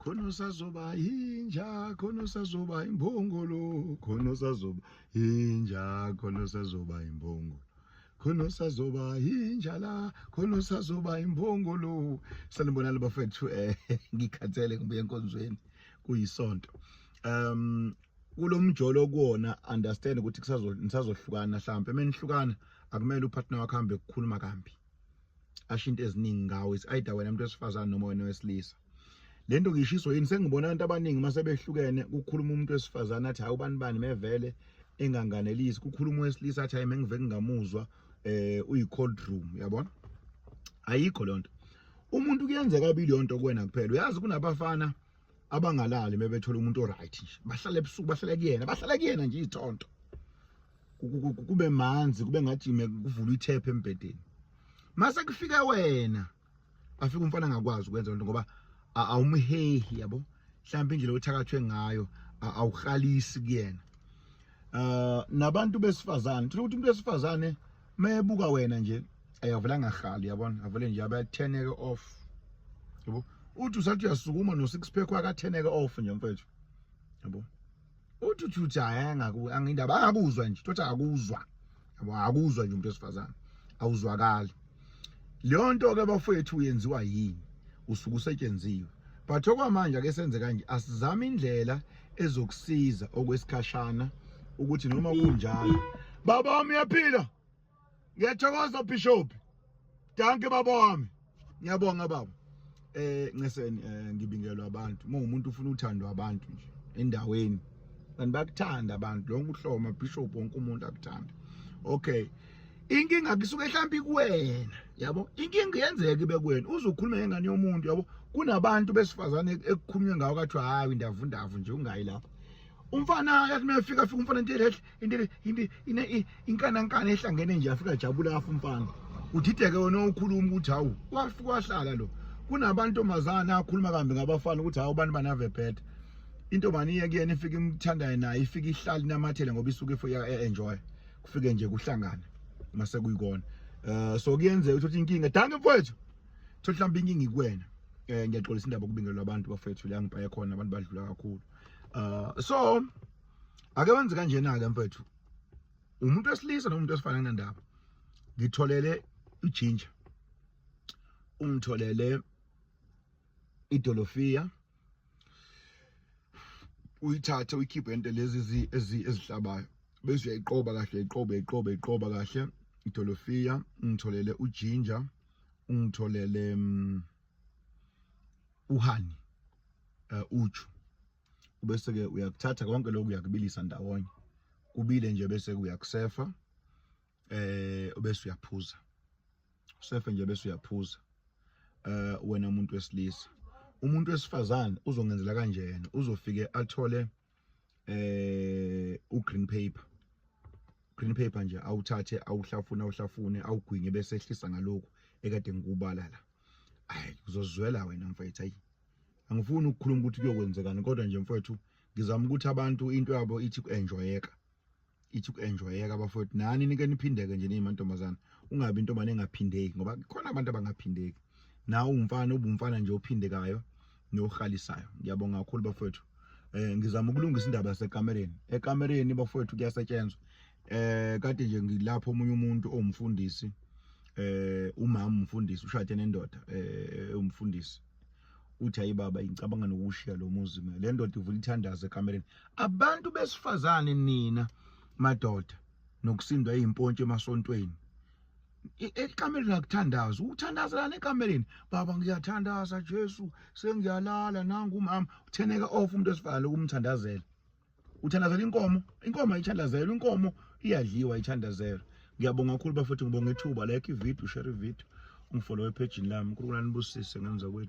khona usazoba yinja khona usazoba imbongolo khona usazoba yinja khona usazoba imbongolo khona usazoba yinja la khona usazoba imbongolo sanibonani bafethu eh ngikhathele ngibuye enkonzweni kuyisonto um kulomjolo kuona understand ukuthi kusazo nisazohlukana mhlambe menihlukana akumele upartner wakho hambe kukhuluma kambi ashinto eziningi ngawo is either wena umuntu wesifazane noma wena wesilisa lento ngishiso yini sengibona abantu abaningi mase behlukene kukhuluma umuntu wesifazane athi hayi ubani bani mevele enganganelisi kukhuluma wesilisa athi hayi mengive kungamuzwa eh uyi cold room yabona ayikho lonto umuntu kuyenzeka abili yonto kuwena kuphela uyazi kunabafana abangalali mebethola umuntu oright nje bahlale ebusuku bahlale kuyena bahlale kuyena nje izithonto kube manzi kube ngajime kuvula ithephe embhedeni mase kufike wena afika umfana angakwazi ukwenza lento ngoba awumhehi yabo mhlawumbe indlela othakathwe ngayo awuhalisi kuyena uh nabantu besifazane thola ukuthi umuntu wesifazane mayebuka wena nje ayavela ngahali yabona avele nje abatheneke off yabo uthi usathi uyasukuma no six pack wakatheneke off nje mfethu yabo uthi uthi uthi hayi angindaba angakuzwa nje thothi akuzwa yabo akuzwa nje umuntu wesifazane awuzwakali leyo nto ke bafowethu uyenziwa yini usuke usetshenziwe but okwamanje ake senze kanje asizame indlela ezokusiza okwesikhashana ukuthi noma kunjalo baba wami uyaphila ngiyathokoza bishop danke baba wami ngiyabonga baba eh nceseni eh, ngibingelwa abantu uma umuntu ufuna uthandwa abantu nje endaweni and bakuthanda abantu lonke uhloma bishop wonke umuntu akuthanda okay inkinga kusuke mhlawumbe kuwena yabo inkinga yenzeka ibe kuwena uzukhuluma ngengane yomuntu yabo kunabantu besifazane ekukhulunywe ngawo kathiwa hayi ndavu ndavu nje ungayi lapho umfana yathi uma efika fika umfana nje lehle into into ine inkanankana ehlangene nje afika jabula kafa umfana udideke wona ukhuluma ukuthi hawu wafika wahlala lo kunabantu omazana akhuluma kambi ngabafana ukuthi hawu abantu banave bad into mani iye kuyena ifike imthandayo naye ifike ihlali namathele ngoba isuke ifike e-, enjoy kufike nje kuhlangana mase kuyikona eh so kuyenzeka ukuthi inkinga danke mfowethu thothi mhlawumbe inkinga ikuwena eh ngiyaxolisa indaba kubingelwa abantu bafethu la ngibhaye khona abantu badlula kakhulu uh so ake wenze kanjena ke mfethu umuntu wesilisa nomuntu wesifana kunendaba ngitholele ijinja ungitholele idolofiya uyithathe uyikhiphe into lezi ezihlabayo bese uyayiqoba kahle iqobe iqobe iqoba kahle idolofiya ungitholele ujinja ungitholele mm, uhani eh, uju ubese-ke uyakuthatha konke lokhu uyakubilisa ndawonye kubile nje bese-ke uyakusefa eh ubese uyaphuza usefe nje bese uyaphuza eh wena umuntu wesilisa umuntu wesifazane uzongenzela kanjena uzofike athole eh ugreen paper green paper nje awuthathe awuhlafune awuhlafune awugwinye bese ehlisa ngalokhu ekade ngikubala la ayi uzozwela wena mfethu ayi angifuni ukukhuluma ukuthi kuyokwenzekani kodwa nje mfowethu ngizama ukuthi abantu into yabo ithi ku-enjoyeka ithi ku-enjoyeka bafowethu nani nike niphindeke nje niyimantombazana ungabi intombane engaphindeki ngoba khona abantu abangaphindeki nawe umfana ubumfana nje ophindekayo nohalisayo ngiyabonga kakhulu bafowethu eh ngizama ukulungisa indaba yasekamereni ekamereni bafowethu kuyasetshenzwa eh kade nje ngilapho omunye umuntu owumfundisi eh umama umfundisi ushade nendoda eh umfundisi uthi hayi baba ngicabanga nokushiya lo muzi mina le ndoda ivula ithandazo ekamereni abantu besifazane nina madoda nokusindwa izimpontshi emasontweni e, ekamereni akuthandaza ukuthandazela nekamereni baba ngiyathandaza Jesu sengiyalala nangu umama utheneka off umuntu osifana lokumthandazela uthandazela inkomo inkomo ayithandazelwa inkomo iyadliwa ayithandazelwa ngiyabonga kakhulu bafethu ngibonga ithuba like ivideo share ivideo ungifollow ephejini lami unkulunkulu anibusise ngenza kwethu